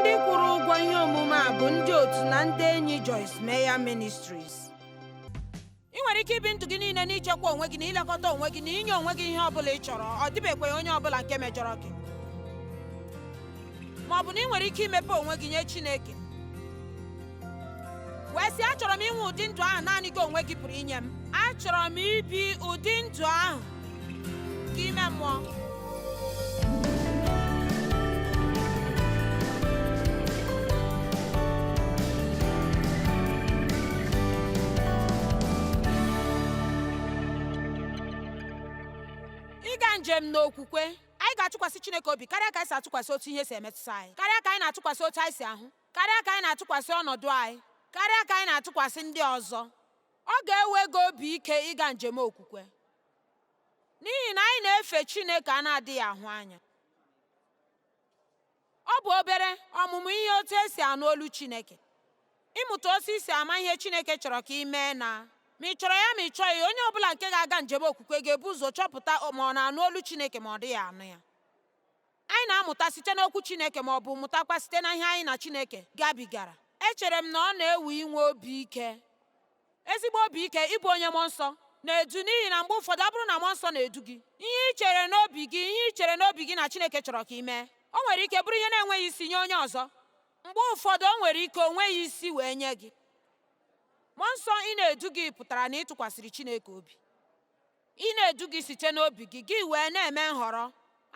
ndị kwụrụ ụgwọ ihe omume a bụ ndị otu na ndị enyi Joyce Meyer Ministries i nwere ike ibi ndụ gị niile n'ichekwa onwe gị na ilekọta onwe gị na inye onwe gị ihe ọbụla ị chọrọ ọ dịbekwa onye ọbụla nke mejọrọ gị ma ọ bụ na i nwere ike imepe onwe gị nye Chineke wee sị achọrọ m inwe ụdị ndụ ahụ naanị gị onwe gị pụrụ inye m achọrọ m ibi ụdị ndụ ahụ nke ime mmụọ ịga njem n'okwukwe anyị ga-atụkwasị Chineke obi karịa ka anyị si atụkwasị otu ihe si emetụta anyị karịa ka anyị na-atụkwasị otu anyị si ahụ karịa ka anyị na-atụkwasị ọnọdụ anyị karịa ka anyị na-atụkwasị ndị ọzọ ọ ga-ewe gị obi ike ịga njem okwukwe n'ihi na anyị na-efe Chineke a na-adịghị ahụ anya ọ bụ obere ọmụmụ ihe otu e si anụ olu Chineke ịmụta otu i si ama ihe Chineke chọrọ ka i mee na ma ị chọrọ ya ma ị chọghị onye ọbụla nke ga-aga njem okwukwe ga-ebu ụzọ chọpụta ma ọ na-anụ olu Chineke ma ọ dịghị anụ ya Anyị na-amụta site n'Okwu Chineke ma ọ bụ mụtakwa site na ihe anyị na Chineke gabigara. Echere m na ọ na-ewe inwe obi ike, ezigbo obi ike, ịbụ onye mmụọ nsọ na-edu n'ihi na mgbe ụfọdụ ọ bụrụ na mmụọ nsọ na-edu gị, ihe i chere n'obi gị, ihe i chere n'obi gị na Chineke chọrọ ka i mee, o nwere ike bụrụ ihe na-enweghị isi nye onye ọzọ. Mgbe ụfọdụ o nwere ike o nweghị isi wee nye gị. Mmụọ nsọ ịna-edu gị pụtara na ị tụkwasịrị Chineke obi. Ịna-edu gị site n'obi gị, gị wee na-eme nhọrọ.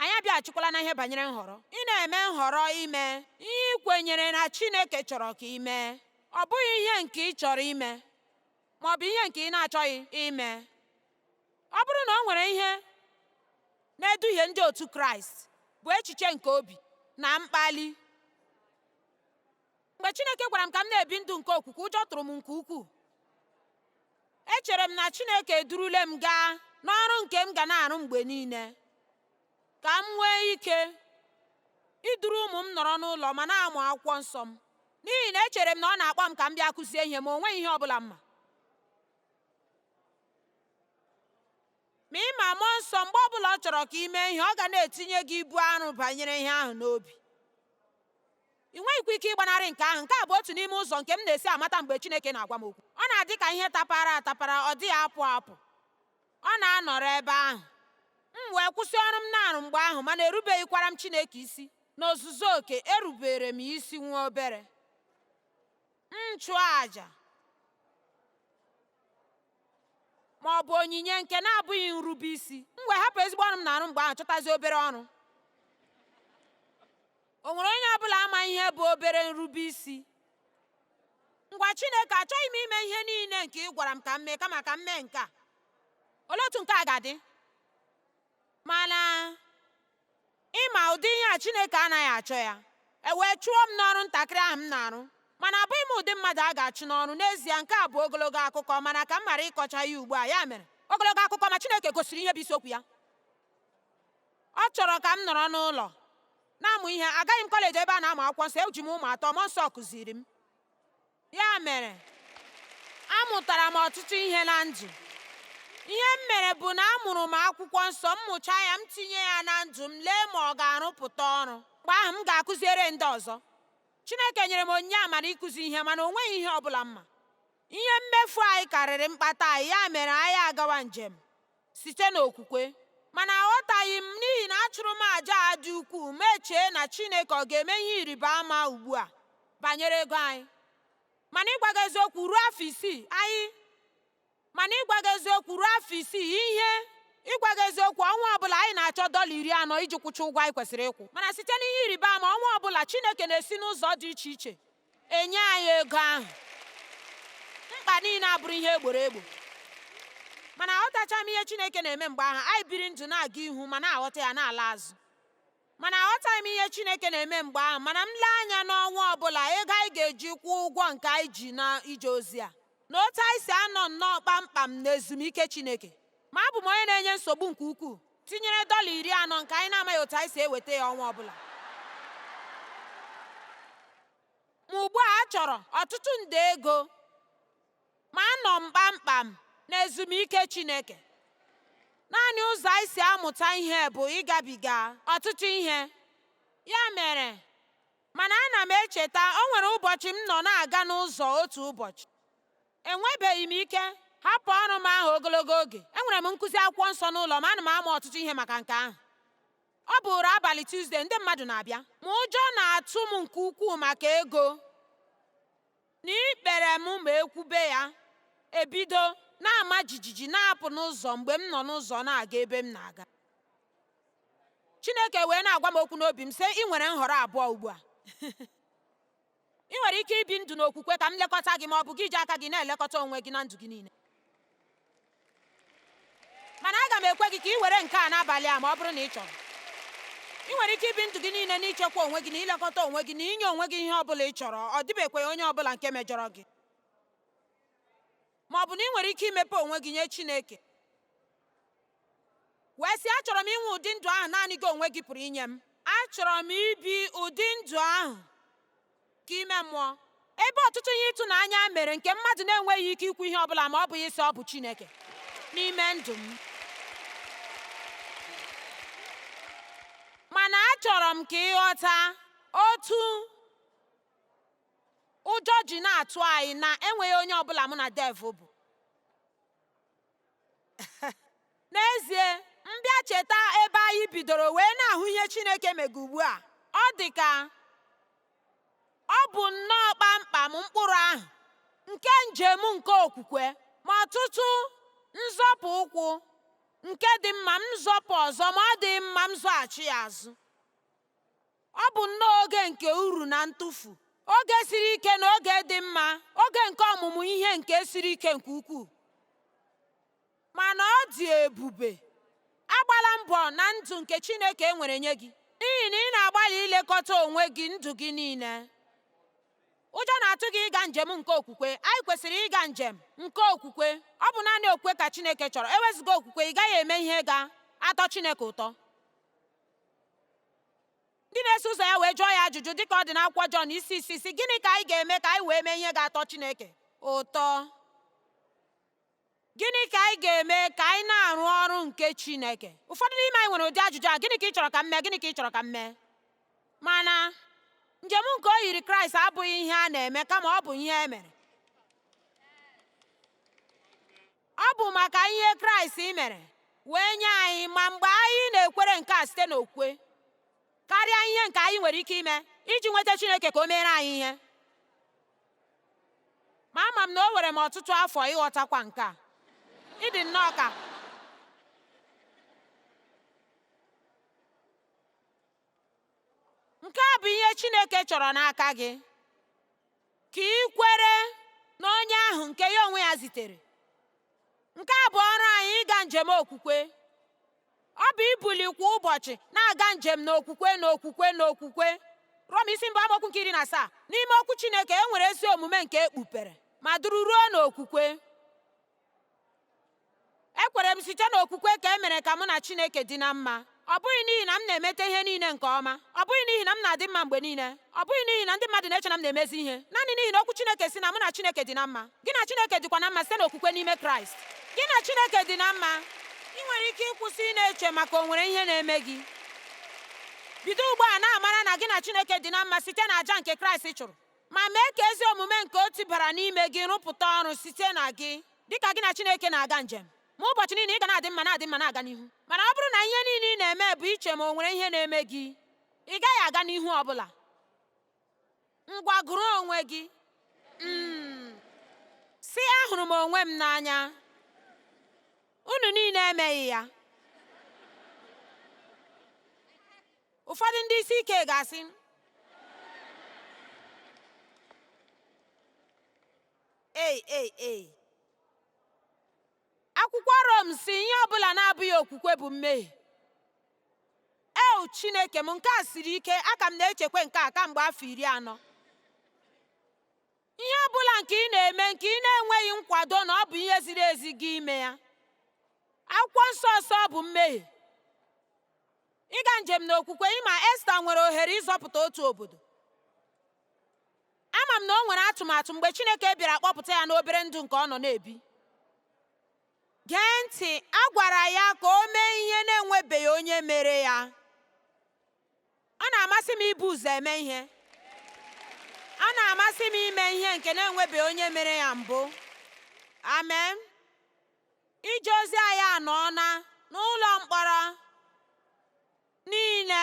Anyị abịaghachikwala na ihe banyere nhọrọ. Ị na-eme nhọrọ ime ihe i kwenyere na Chineke chọrọ ka i mee, ọ bụghị ihe nke ị chọrọ ime ma ọ bụ ihe nke ị na-achọghị ime. Ọ bụrụ na o nwere ihe na-eduhie ndị otu Kraịst, bụ echiche nke obi na mkpali. Mgbe Chineke gwara m ka m na-ebi ndụ nke okwukwe, ụjọ tụrụ m nke ukwuu. Echere m na Chineke edurule m gaa n'ọrụ nke m ga na-arụ mgbe niile ka m nwee ike iduru ụmụ m nọrọ n'ụlọ ma na-amụ akwụkwọ nsọ m n'ihi na echere m na ọ na-akpọ m ka m bịa kụzie ihe ma o nweghị ihe ọ bụla m ma ma ị ma mmụọ nsọ mgbe ọ bụla ọ chọrọ ka i mee ihe ọ ga na-etinye gị ibu arụ banyere ihe ahụ n'obi Ị nweghịkwa ike ịgbanarị nke ahụ. Nke a bụ otu n'ime ụzọ nke m na-esi amata mgbe Chineke na-agwa m okwu. Ọ na-adị ka ihe tapara atapara, ọ dịghị apụ apụ. Ọ na-anọrọ ebe ahụ. M wee kwụsị ọrụ m na-arụ mgbe ahụ, mana erubeghịkwara m Chineke isi n'ozuzu oke. Erubere m isi nwa obere. M chụọ aja ma ọ bụ onyinye nke na-abụghị nrube isi, m wee hapụ ezigbo ọrụ m na-arụ mgbe ahụ chọtazie obere ọrụ. O nwere onye ọ bụla ama ihe bụ obere nrube isi? Ngwa Chineke, achọghị m ime ihe niile nke ị gwara m ka m mee kama ka m mee nke a. Olee otu nke a ga-adị? Mana ị ma ụdị ihe a Chineke anaghị achọ ya. E wee chụọ m n'ọrụ ntakịrị ahụ m na-arụ. Mana abụghị m ụdị mmadụ a ga-achụ n'ọrụ. N'ezie, nke a bụ ogologo akụkọ, mana ka m ghara ịkọcha ya ugbu a, ya mere, ogologo akụkọ ma Chineke gosiri ihe bụ isiokwu ya. Ọ chọrọ ka m nọrọ n'ụlọ na-amụ ihe. Agaghị m kọleji ebe a na-amụ akwụkwọ nsọ, eji m ụmụ atọ, mmụọ nsọ kụziri m. Ya mere, amụtara m ọtụtụ ihe na ndụ. Ihe m mere bụ na amụrụ m akwụkwọ nsọ, m mụchaa ya, m tinye ya na ndụ m, lee ma ọ ga-arụpụta ọrụ. Mgbe ahụ, m ga-akụziere ndị ọzọ. Chineke nyere m onyinye amara ịkụzi ihe, mana o nweghị ihe ọ bụla m ma. Ihe mmefu anyị karịrị mkpata anyị, ya mere anyị agawa njem. site n'okwukwe. Mana aghọtaghị m n'ihi na achụrụ m aja a dị ukwuu m echee na Chineke ọ ga-eme ihe ịrịba ama ugbu a banyere ego anyị. Mana ịgwa gị eziokwu ruo afọ isii anyị mana ịgwa gị eziokwu ruo afọ isii ihe ịgwa gị eziokwu ọnwa ọbụla anyị na-achọ dọla iri anọ iji kwụcha ụgwọ anyị kwesịrị ịkwụ mana site n'ihe ịrịba ama ọnwa ọbụla Chineke na-esi n'ụzọ dị iche iche enye anyị ego ahụ mkpa niile abụrụ ihe e gboro egbo mana aghọtacha m ihe Chineke na-eme mgbe ahụ anyị biri ndụ na-aga ihu ma na-aghọta ya na-ala azụ mana aghọtaghị m ihe Chineke na-eme mgbe ahụ mana m lee anya n'ọnwa ọbụla ego anyị ga-eji kwụọ ụgwọ nke anyị ji na ije ozi a na otu anyị si anọ nnọọ kpamkpam na ezumike Chineke ma abụ m onye na-enye nsogbu nke ukwuu tinyere dọla iri anọ nke anyị na-amaghị otu anyị si eweta ya ọnwa ọbụla ma ugbu a chọrọ ọtụtụ nde ego ma anọ m kpamkpam na ezumike Chineke naanị ụzọ anyị si amụta ihe bụ ịgabiga ọtụtụ ihe ya mere mana ana m echeta o nwere ụbọchị m nọ na-aga n'ụzọ otu ụbọchị enwebeghị m ike hapụ ọrụ m ahụ ogologo oge enwere m nkụzi akwụkwọ nsọ n'ụlọ m ana m amụ ọtụtụ ihe maka nke ahụ ọ bụrụ abalị Tuesday ndị mmadụ na-abịa ma ụjọ na-atụ m nke ukwuu maka ego na ikpere m ma ekwube ya ebido na-ama jijiji na-apụ n'ụzọ mgbe m nọ n'ụzọ na-aga ebe m na-aga Chineke wee na-agwa m okwu n'obi m sị ị nwere nhọrọ abụọ ugbu a Ị nwere ike ibi ndụ n'okwukwe ka m lekọta gị ma ọ bụ gị ji aka gị na-elekọta onwe gị na ndụ gị niile. Mana aga m ekwe gị ka ị were nke a n'abalị a ma ọ bụrụ na ị chọrọ. Ị nwere ike ibi ndụ gị niile n'ichekwa onwe gị na ilekọta onwe gị na inye onwe gị ihe ọ bụla ị chọrọ, ọ dịbekwaghị onye ọ bụla nke mejọrọ gị. Ma ọ bụ na ị nwere ike imepe onwe gị nye Chineke. wee sị achọrọ m inwe ụdị ndụ ahụ naanị gị onwe gị pụrụ inye m achọrọ m ibi ụdị ndụ ahụ nke ime mmụọ ebe ọtụtụ ihe ịtụnanya mere nke mmadụ na-enweghị ike ikwu ihe ọ bụla ma ọ bụghị ịsị ọ bụ Chineke n'ime ndụ m mana achọrọ m ka ị ghọta otu ụjọ ji na-atụ anyị na e nweghị onye ọbụla mụ na Dave bụ n'ezie m bịa cheta ebe anyị bidoro wee na-ahụ ihe Chineke mega ugbu a ọ dị ka ọ bụ nnọọ kpamkpam mkpụrụ ahụ nke njem nke okwukwe ma ọtụtụ nzọpụ ụkwụ nke dị mma m zọpụ ọzọ ma ọ dị mma m zọghachi ya azụ Ọ bụ nnọọ oge nke uru na ntụfu, oge siri ike na oge dị mma, oge nke ọmụmụ ihe nke siri ike nke ukwuu. Mana ọ dị ebube. Agbala mbọ na ndụ nke Chineke nwere nye gị, n'ihi na ị na-agbalị ilekọta onwe gị ndụ gị niile. Ụjọ na-atụ gị ịga njem nke okwukwe. Anyị kwesịrị ịga njem nke okwukwe. Ọ bụ naanị okwukwe ka Chineke chọrọ. Ewezuga okwukwe, ị gaghị eme ihe ga-atọ Chineke ụtọ. ndị na-eso ụzọ ya wee jụọ ya ajụjụ dịka ọ dị n'akwụkwọ Jọn isi isii sị gịnị ka anyị ga-eme ka anyị wee mee ihe ga-atọ Chineke ụtọ gịnị ka anyị ga-eme ka anyị na-arụ ọrụ nke Chineke ụfọdụ n'ime anyị nwere ụdị ajụjụ a gịnị ka ị chọrọ ka m mee gịnị ka ị chọrọ ka m mee mana njem nke oyiri Kraịst abụghị ihe a na-eme kama ọ bụ ihe e mere Ọ bụ maka ihe Kraịst mere wee nye anyị ma mgbe anyị na-ekwere nke a site n'okwukwe karịa ihe nke anyị nwere ike ime iji nweta Chineke ka o meere anyị ihe ma ama m na o were m ọtụtụ afọ ịghọtakwa nke a ị dị nnọọ ka nke a bụ ihe Chineke chọrọ n'aka gị ka i kwere n'onye ahụ nke ya onwe ya zitere nke a bụ ọrụ anyị ịga njem okwukwe ọ bụ ibuli kwa ụbọchị na-aga njem n'okwukwe n'okwukwe n'okwukwe Rom isi mbụ amaokwu nke iri na asaa n'ime okwu Chineke e nwere ezi omume nke ekpupere ma duru ruo n'okwukwe ekwere m site n'okwukwe ka e mere ka mụ na Chineke dị na mma ọ bụghị n'ihi na m na-emeta ihe niile nke ọma ọ bụghị n'ihi na m na-adị mma mgbe niile ọ bụghị n'ihi na ndị mmadụ na-eche na m na-emezi ihe naanị n'ihi na okwu Chineke sị na mụ na Chineke dị na mma gị na Chineke dịkwa na mma site n'okwukwe n'ime Kraịst gị na Chineke dị na mma i nwere ike ịkwụsị ịna-eche maka o nwere ihe na-eme gị bido ugbu a na-amara na gị na Chineke dị na mma site na aja nke Kraịst chụrụ ma mee ka ezi omume nke o tibara n'ime gị rụpụta ọrụ site na gị dịka gị na Chineke na-aga njem ma ụbọchị niile ị ga na-adị mma na-adị mma na-aga n'ihu mana ọ bụrụ na ihe niile ị na-eme bụ iche ma o nwere ihe na-eme gị ị gaghị aga n'ihu ọ bụla ngwa gụrụ onwe gị mm sị ahụrụ m onwe m n'anya unu niile emeghị ya ụfọdụ ndị isi ike ga-asị ei ei ei akwụkwọ Rom sị ihe ọbụla na-abụghị okwukwe bụ mmehie eu chineke m nke a siri ike aka m na-echekwa nke a kamgbe afọ iri anọ ihe ọbụla nke ị na-eme nke ị na-enweghị nkwado na ọ bụ ihe ziri ezi gị ime ya akwụkwọ nsọ sị ọ bụ mmehie Ịga njem n'okwukwe ị ma Esta nwere ohere ịzọpụta otu obodo. Ama m na o nwere atụmatụ mgbe Chineke bịara kpọpụta ya n'obere ndụ nke ọ nọ na-ebi. Gee ntị, a gwara ya ka o mee ihe na-enwebeghị onye mere ya. Ọ na-amasị m ibu ụzọ eme ihe. Ọ na-amasị m ime ihe nke na-enwebeghị onye mere ya mbụ. Amen. Ije ozi anyị anọọna n'ụlọ mkpọrọ niile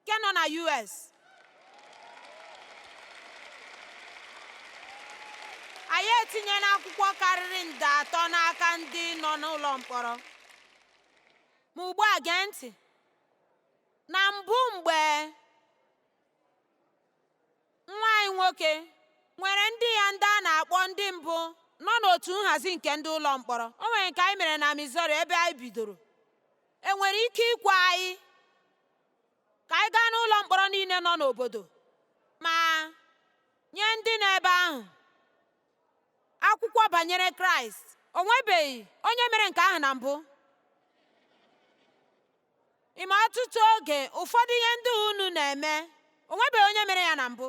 nke nọ na US. Anyị etinyela akwụkwọ karịrị nde atọ n'aka ndị nọ n'ụlọ mkpọrọ. Ma ugbu a gee ntị. Na mbụ mgbe nwa anyị nwoke nwere ndị ya ndị a na-akpọ ndị mbụ nọ n'otu nhazi nke ndị ụlọ mkpọrọ o nwere nke anyị mere na Missouri ebe anyị bidoro e nwere ike ikwe anyị ka anyị gaa n'ụlọ mkpọrọ niile nọ n'obodo ma nye ndị nọ ebe ahụ akwụkwọ banyere Kraịst o nwebeghị onye mere nke ahụ na mbụ Ị ma ọtụtụ oge ụfọdụ ihe ndị unu na-eme o nwebeghị onye mere ya na mbụ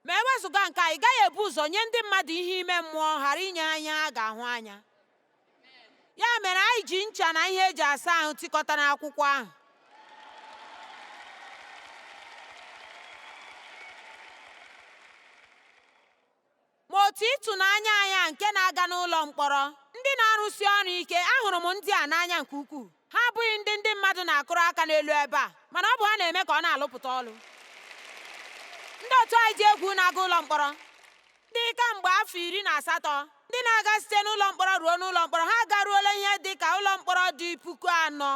ma e wezụga nke a ị gaghị ebu ụzọ nye ndị mmadụ ihe ime mmụọ ghara inye ha ihe ha ga-ahụ anya ya mere anyị ji ncha na ihe eji asa ahụ tikọta n'akwụkwọ ahụ Ma otu ịtụnanya anya nke na-aga n'ụlọ mkpọrọ, ndị na-arụsi ọrụ ike, ahụrụ m ndị a n'anya nke ukwuu. Ha abụghị ndị ndị mmadụ na-akụrụ aka n'elu ebe a, mana ọ bụ ha na-eme ka ọ na-alụpụta ọlụ. Ndị otu anyị dị egwu na-aga ụlọ mkpọrọ, ndị kamgbe afọ iri na asatọ, ndị na-aga site n'ụlọ mkpọrọ ruo n'ụlọ mkpọrọ, ha agaruola ihe dị ka ụlọ mkpọrọ dị puku anọ,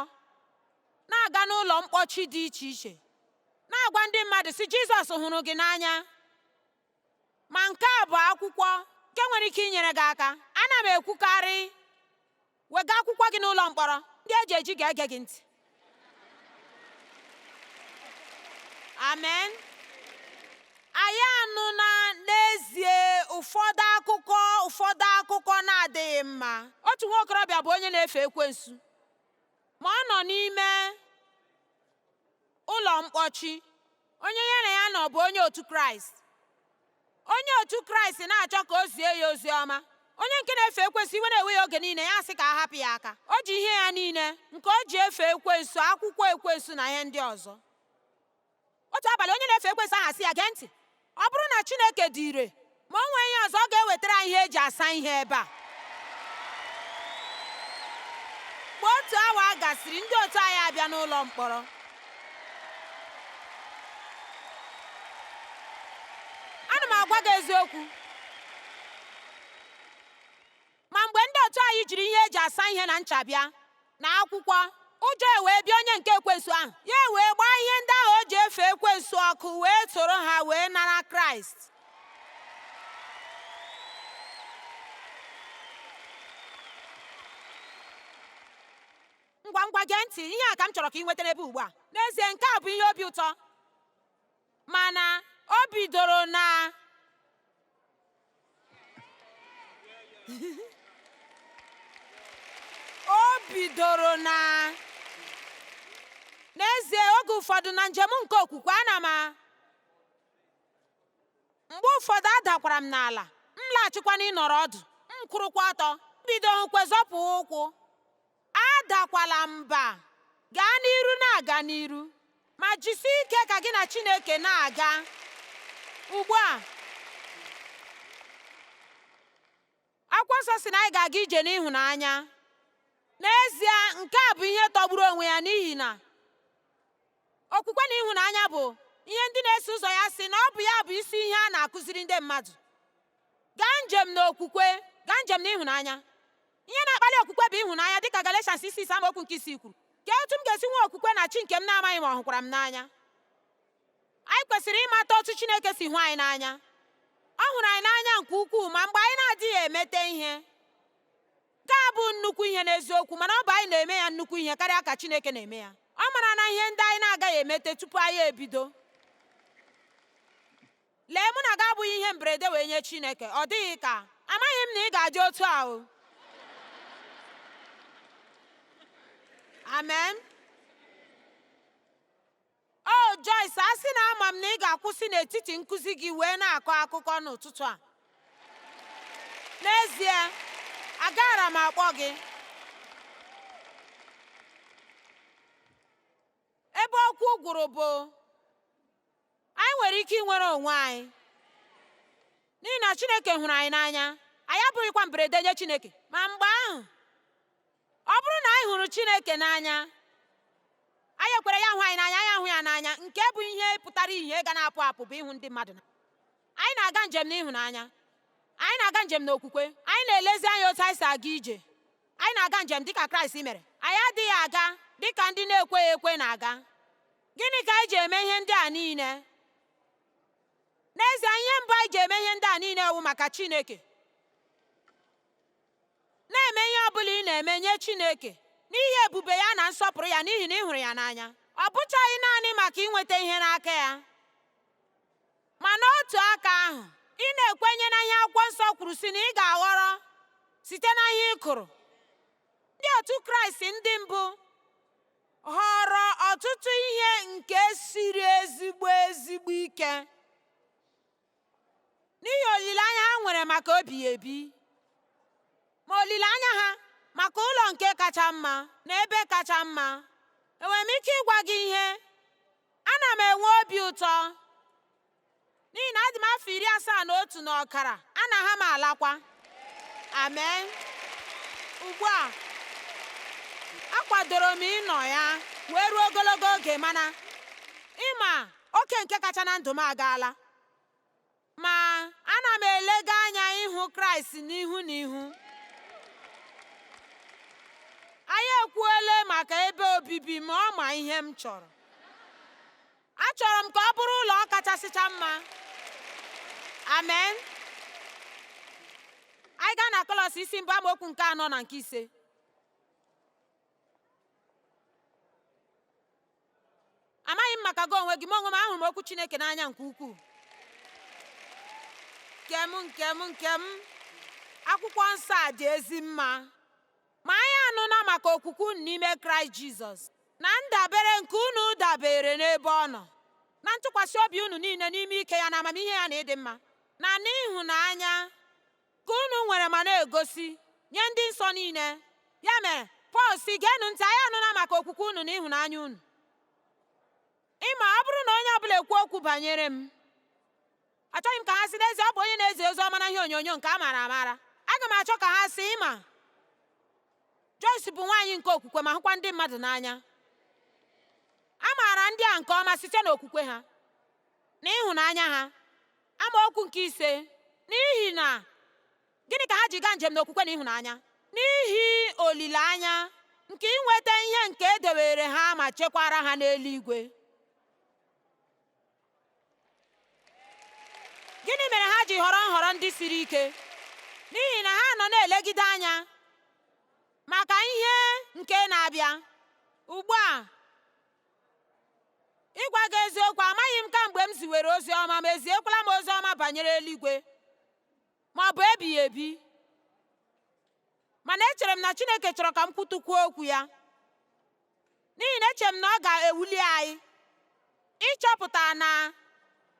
na-aga n'ụlọ mkpọchi dị iche iche, na-agwa ndị mmadụ, sị, Jizọs hụrụ gị n'anya. ma nke a bụ akwụkwọ nke nwere ike inyere gị aka ana m ekwukarị wega akwụkwọ gị n'ụlọ mkpọrọ ndị eji eji ga-ege gị ntị amen anyị anụna n'ezie ụfọdụ a ụfọdụ akụkọ na-adịghị mma otu nwa okorobịa bụ onye na-efe ekwensu ma ọ nọ n'ime Ụlọ mkpọchi. Onye ya na ya nọ bụ onye otu Kraịst. Onye otu Kraịst na-achọ ka o zie ya ozi ọma. Onye nke na-efe ekwensu iwe na-ewe ya oge niile ya asị ka a hapụ ya aka. O ji ihe ya niile nke o ji efe ekwensu, akwụkwọ ekwensu na ihe ndị ọzọ. Otu abalị onye na-efe ekwensu ahụ asị ya, gee ntị, Ọ bụrụ na Chineke dị ire, ma o nwee ihe ọzọ ọ ga-ewetara anyị ihe eji asa ihe ebe a. Mgbe otu awa gasịrị, ndị otu anyị abịa n'ụlọ mkpọrọ. Ana m agwa gị eziokwu. Ma mgbe ndị otu anyị jiri ihe eji asa ihe na ncha bịa na akwụkwọ, ụjọ ewee bịa onye nke ekwensu ahụ, ya ewee gbaa ihe ndị ahụ o ji efe ekwensu ọkụ wee soro ha wee nara Kraịst. ngwa ngwa gee ntị ihe a ka m chọrọ ka ị nweta n'ebe ugbu a n'ezie nke a bụ ihe obi ụtọ mana o bidoro na o bidoro na n'ezie oge ụfọdụ na njem nke okwukwe ana m mgbe ụfọdụ adakwara m n'ala m laghachikwa n'ịnọrọ ọdụ m kwụrụkwa ọtọ m bidokwa zọpụ ụkwụ Adakwala mba, gaa n'iru na-aga n'iru, ma jisie ike ka gị na Chineke na-aga. Ugbu a, akwụkwọ nsọ sị na anyị ga-aga ije n'ịhụnanya. N'ezie, nke a bụ ihe tọgburu onwe ya n'ihi na okwukwe na ịhụnanya bụ ihe ndị na-eso ụzọ ya sị na ọ bụ ya bụ isi ihe a na-akụziri ndị mmadụ. Gaa njem n'okwukwe, gaa njem n'ịhụnanya. Ihe na-akpali okwukwe bụ ịhụnanya dịka Galatians isi ise amaokwu nke isii kwuru. Kee otu m ga-esi nwee okwukwe na Chi nke m na-amaghị ma ọ hụkwara m n'anya? Anyị kwesịrị ịmata otu Chineke si hụ anyị n'anya. Ọ hụrụ anyị n'anya nke ukwuu ma mgbe anyị na-adịghị emete ihe. Nke a bụ nnukwu ihe n'eziokwu mana ọ bụ anyị na-eme ya nnukwu ihe karịa ka Chineke na-eme ya. Ọ marana ihe ndị anyị na-agaghị emete tupu anyị ebido. Lee, mụ na gị abụghị ihe mberede wee nye Chineke, ọ dịghị ka, amaghị m na ị ga-adị otu a o. Amen. O Joyce, a sị na ama m na ị ga-akwụsị n'etiti nkụzi gị wee na-akọ akụkọ n'ụtụtụ a. N'ezie, agaara m akpọ gị. Ebe okwu gwụrụ bụ anyị nwere ike inwere onwe anyị n'ihi na Chineke hụrụ anyị n'anya anyị abụghịkwa mberede nye Chineke ma mgbe ahụ ọ bụrụ na anyị hụrụ Chineke n'anya anyị ekwere ya hụ anyị n'anya anyị ahụ ya n'anya nke bụ ihe pụtara ihe ga na-apụ apụ bụ ịhụ ndị mmadụ n'anya anyị na-aga njem n'ịhụnanya anyị na-aga njem n'okwukwe anyị na-elezi anya otu anyị si aga ije anyị na-aga njem dịka Kraịst mere anyị adịghị aga dịka ndị na-ekweghị ekwe na-aga Gịnị ka anyị ji eme ihe ndị a niile? N'ezie, ihe mbụ anyị ji eme ihe ndị a niile wụ maka Chineke. Na-eme ihe ọ bụla ị na-eme nye Chineke n'ihi ebube ya na nsọpụrụ ya n'ihi na ị hụrụ ya n'anya. Ọ bụchaghị naanị maka inweta ihe n'aka ya, ma n'otu aka ahụ, ị na-ekwenye na ihe Akwụkwọ Nsọ kwuru sị na ị ga-aghọrọ site na ihe ị kụrụ. Ndị otu Kraịst ndị mbụ họrọ ọtụtụ ihe nke siri ezigbo ezigbo ike n'ihi olileanya ha nwere maka ebighị ebi ma olileanya ha maka ụlọ nke kacha mma na ebe kacha mma enwere m ike ịgwa gị ihe ana m enwe obi ụtọ n'ihi na adị m afọ iri asaa na otu na ọkara anaghị m alakwa amen ugbu a akwadoro m ịnọ ya wee ruo ogologo oge mana ịma oke nke kacha na ndụ m agaala ma ana m elega anya ịhụ kraịst n'ihu na ihu anyị ekwuole maka ebe obibi ma ọ ma ihe m chọrọ Achọrọ m ka ọ bụrụ ụlọ kachasịcha mma. Amen. Anyị gaa na Kọlọs isi mbụ amaokwu nke anọ na nke ise. Amaghị m maka gị onwe gị, m onwe m ahụrụ m okwu Chineke n'anya nke ukwuu. Nke m nke m nke m akwụkwọ nsọ a dị ezi mma. Ma anyị anụna maka okwukwe unu n'ime Kraịst Jizọs na ndabere nke unu dabeere n'ebe ọ nọ, na ntụkwasị obi unu niile n'ime ike ya na amamihe ya na ịdị mma, na n'ịhụnanya nke unu nwere ma na-egosi nye ndị nsọ niile. Ya mere, Pọl sị geenụ ntị, anyị anụna maka okwukwe unu na ịhụnanya unu. Ịma ọ bụrụ na onye ọbụla ekwuo okwu banyere m, achọghị m ka ha sị n'ezie ọ bụ onye na-ezi ozi ọma na ihe onyonyo nke a maara amara aga m achọ ka ha sị ịma Joyce bụ nwaanyị nke okwukwe ma hụkwa ndị mmadụ n'anya a maara ndị a nke ọma site n'okwukwe ha na ịhụnanya ha amaokwu nke ise n'ihi na gịnị ka ha ji gaa njem n'okwukwe na ịhụnanya n'ihi olileanya nke inweta ihe nke edewere ha ma chekwara ha n'eluigwe gịnị mere ha ji họrọ nhọrọ ndị siri ike n'ihi na ha nọ na-elegide anya maka ihe nke na-abịa ugbu a ịgwa gị eziokwu amaghị m kamgbe m ziwere ozi ọma ma eziekwala m ozi ọma banyere eluigwe ma ọ bụ ebighị ebi mana echere m na Chineke chọrọ ka m kwutụkwuo okwu ya n'ihi na echere m na ọ ga-ewuli anyị ịchọpụta na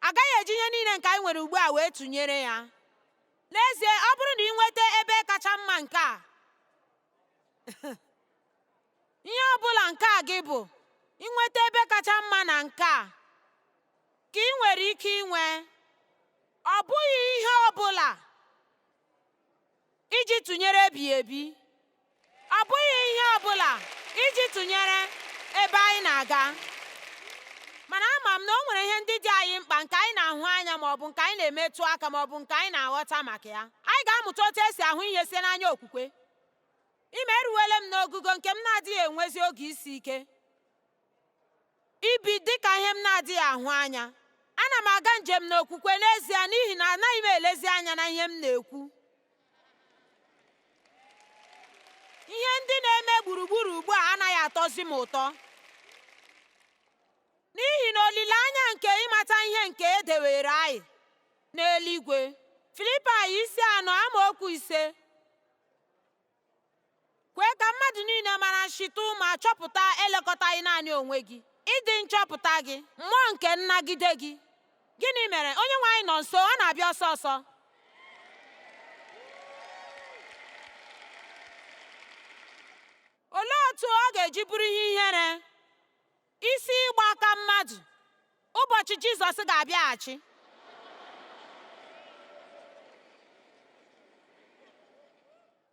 agaghị eji ihe niile nke anyị nwere ugbu a wee tụnyere ya n'ezie ọ bụrụ na ị nweta ebe kacha mma nke a ihe ọ bụla nke gị bụ inweta ebe kacha mma na nke a ka ị nwere ike inwe ọ bụghị ihe ọ bụla iji tụnyere ebighị ebi ọ bụghị ihe ọ bụla iji tụnyere ebe anyị na-aga mana ama m na o nwere ihe ndị dị anyị mkpa nke anyị na-ahụ anya ma ọ bụ nke anyị na-emetụ aka ma ọ bụ nke anyị na-aghọta maka ya anyị ga-amụta otu esi ahụ ihe site n'anya okwukwe ịma eruwele m n'ogugo nke m na-adịghị enwezi oge isi ike ibi dị ka ihe m na-adịghị ahụ anya. Ana m aga njem n'okwukwe n'ezie n'ihi na anaghị m elezi anya na ihe m na-ekwu. Ihe ndị na-eme gburugburu ugbu a anaghị atọzi m ụtọ. N'ihi na olileanya nke ịmata ihe nke e dewere anyị n'eluigwe. Filipaị isi anọ amaokwu ise Kwee ka mmadụ niile mara nshịtụ ma chọpụta elekọtaghị naanị onwe gị, ịdị nchọpụta gị, mmụọ nke nnagide gị. Gịnị mere? Onyenweanyị nọ nso, ọ na-abịa ọsọ ọsọ. Olee otu ọ ga-eji bụrụ ihe ihere Isi ịgba aka mmadụ ụbọchị Jizọs ga-abịaghachi.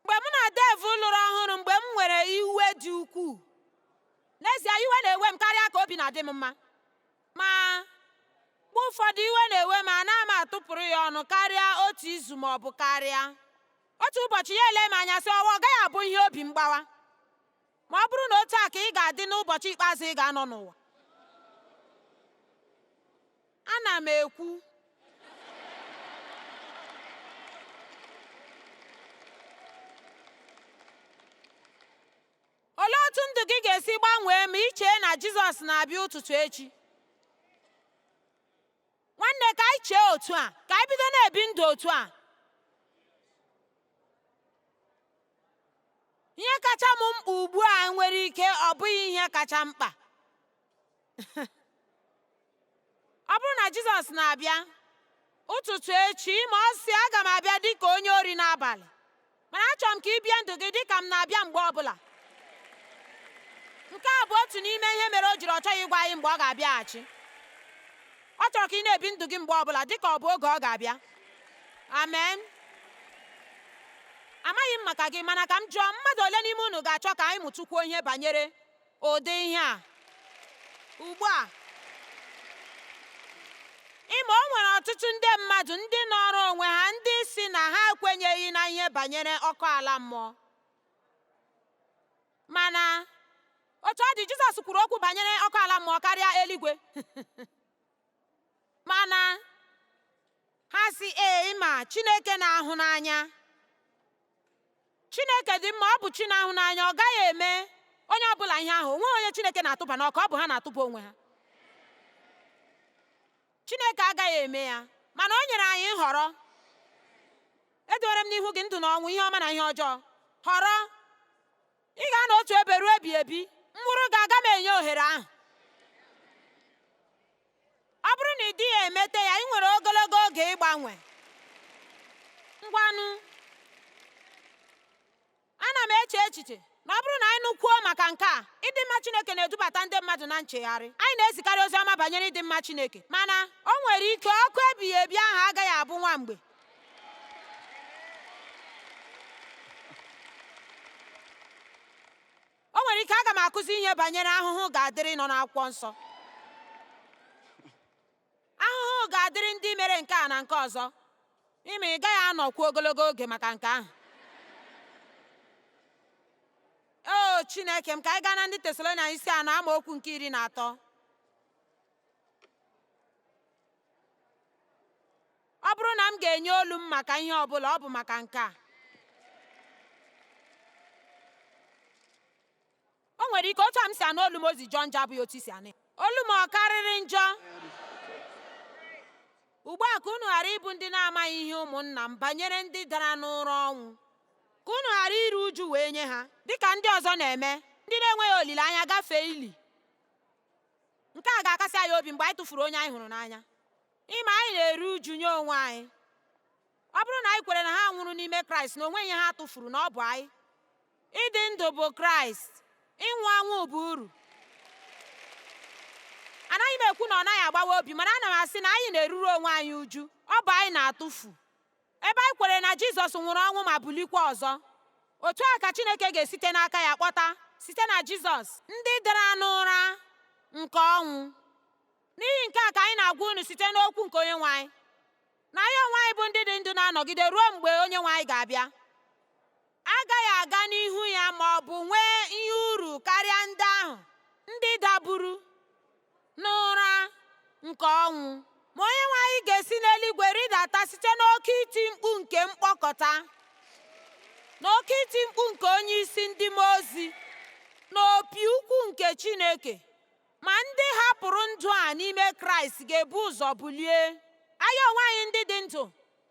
Mgbe mụ na Dave lụrụ ọhụrụ mgbe m nwere iwe dị ukwuu, n'ezie iwe na-ewe m karịa ka obi na-adị m mma. Ma mgbe ụfọdụ iwe na-ewe m ana m atụpụrụ ya ọnụ karịa otu izu ma ọ bụ karịa. Otu ụbọchị ya ele m anya sị ọwa ọ gaghị abụ ihe obi mgbawa. Ma ọ bụrụ na otu a ka ị ga-adị n'ụbọchị ikpeazụ ị ga-anọ n'ụwa, ana m ekwu olee otu ndụ gị ga-esi gbanwee ma ị chee na Jizọs na-abịa ụtụtụ echi? nwanne ka anyị chee otu a ka anyị bido na-ebi ndụ otu a ihe kacha m mkpa ugbu a nwere ike ọ bụghị ihe kacha mkpa ọ bụrụ na Jizọs na-abịa ụtụtụ echi ịma ọ sị aga m abịa dị ka onye ori n'abalị mana achọrọ m ka i bie ndụ gị dị ka m na-abịa mgbe ọbụla nke a bụ otu n'ime ihe mere o jiri ọ chọghị ịgwa anyị mgbe ọ ga-abịaghachi ọ chọrọ ka ị na-ebi ndụ gị mgbe ọbụla dị ka ọ bụ oge ọ ga-abịa amen amaghị m maka gị mana ka m jụọ mmadụ ole n'ime unu ga-achọ ka anyị mụtụkwuo ihe banyere ụdị ihe a ugbu a ịma o nwere ọtụtụ ndị mmadụ ndị nọrọ onwe ha ndị sị na ha ekwenyeghị na ihe banyere ọkụ ala mmụọ mana otu ọ dị Jizọs kwuru okwu banyere ọkụ ala mmụọ karịa eluigwe mana ha sị ee ịma Chineke na-ahụ n'anya chineke dị mma ọ bụ chi na-ahụ n'anya ọ gaghị eme onye ọbụla ihe ahụ o nweghị onye chineke na-atụba n'ọkụ ọ bụ ha na-atụba onwe ha chineke agaghị eme ya mana o nyere anyị nhọrọ edowere m n'ihu gị ndụ na ọnwụ ihe ọma na ihe ọjọọ họrọ ị ga-anọ otu ebe ruo ebighị ebi m wụrụ gị aga m enye ohere ahụ ọ bụrụ na ị dịghị emete ya ị nwere ogologo oge ịgbanwe ngwanụ ana m eche echiche na ọ bụrụ na anyị nụkwuo maka nke a ịdị mma Chineke na-edubata ndị mmadụ na nchegharị anyị na-ezikarị ozi ọma banyere ịdị mma Chineke mana o nwere ike ọkụ ebighị ebi ahụ agaghị abụ nwa mgbe o nwere ike aga m akụzi ihe banyere ahụhụ ga-adịrị nọ n'akwụkwọ nsọ ahụhụ ga-adịrị ndị mere nke a na nke ọzọ ịma ị gaghị anọkwu ogologo oge maka nke ahụ o chineke m ka anyị gaa na ndị tesalonia isi anọ amaokwu nke iri na atọ Ọ bụrụ na m ga-enye olu m maka ihe ọ bụla, ọ bụ maka nke a. O nwere ike otu a m si anụ olu m o si jọọ njọ abụghị otu i si anụ Olu m ọ karịrị njọ? Ugbu a ka unu ghara ịbụ ndị na-amaghị ihe ụmụnna m banyere ndị dara n'ụra ọnwụ, ka unu ghara iru uju wee nye ha, dị ka ndị ọzọ na-eme, ndị na-enweghị olileanya gafee ili. Nke a ga-akasi anyị obi mgbe anyị tụfuru onye anyị hụrụ n'anya. Ịma anyị na-eru uju nye onwe anyị ọ bụrụ na anyị kwere na ha nwụrụ n'ime Kraịst na o nweghị ihe ha tụfuru na ọ bụ anyị ịdị ndụ bụ Kraịst ịnwụ anwụ bụ uru anaghị m ekwu na ọ naghị agbawa obi mana ana m asị na anyị na-eruru onwe anyị uju ọ bụ anyị na-atụfu ebe anyị kwere na Jizọs nwụrụ ọnwụ ma bulikwa ọzọ otu a ka Chineke ga-esite n'aka ya kpọta site na Jizọs ndị dara n'ụra nke ọnwụ N'ihi nke a ka anyị na-agwa unu site n'okwu nke onye nwe anyị na anyị onwe anyị bụ ndị dị ndụ na-anọgide ruo mgbe onye nwe anyị ga-abịa agaghị aga n'ihu ya ma ọ bụ nwee ihe uru karịa ndị ahụ ndị daburu n'ụra nke ọnwụ ma onye nwe anyị ga-esi n'eluigwe rịdata site n'oke iti mkpu nke mkpọkọta na oke iti mkpu nke onye isi ndị mmụọ ozi na opi ukwu nke Chineke Ma ndị hapụrụ ndụ a n'ime Kraịst ga-ebu ụzọ bulie. Anyị onwe anyị ndị dị ndụ,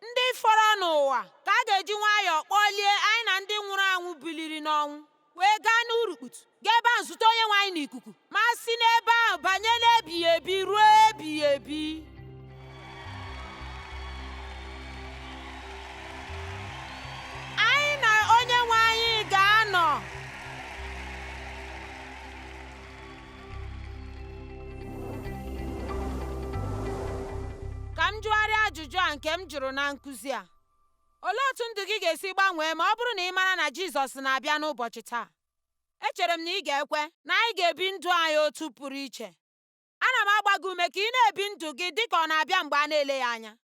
ndị fọrọ n'ụwa ka a ga-eji nwayọọ kpọlie anyị na ndị nwụrụ anwụ biliri n'ọnwụ wee gaa n'urukputu gaa ebe ahụ zute onye nwe anyị n'ikuku ma si n'ebe ahụ banye n'ebighị ebi ruo ebighị ebi ka m jụgharịa ajụjụ a nke m jụrụ na nkụzi a olee otu ndụ gị ga-esi gbanwee ma ọ bụrụ na ị mara na Jizọs na-abịa n'ụbọchị taa echere m na ị ga-ekwe na anyị ga-ebi ndụ anyị otu pụrụ iche ana m agba gị ume ka ị na-ebi ndụ gị dị ka ọ na-abịa mgbe a na-eleghị anya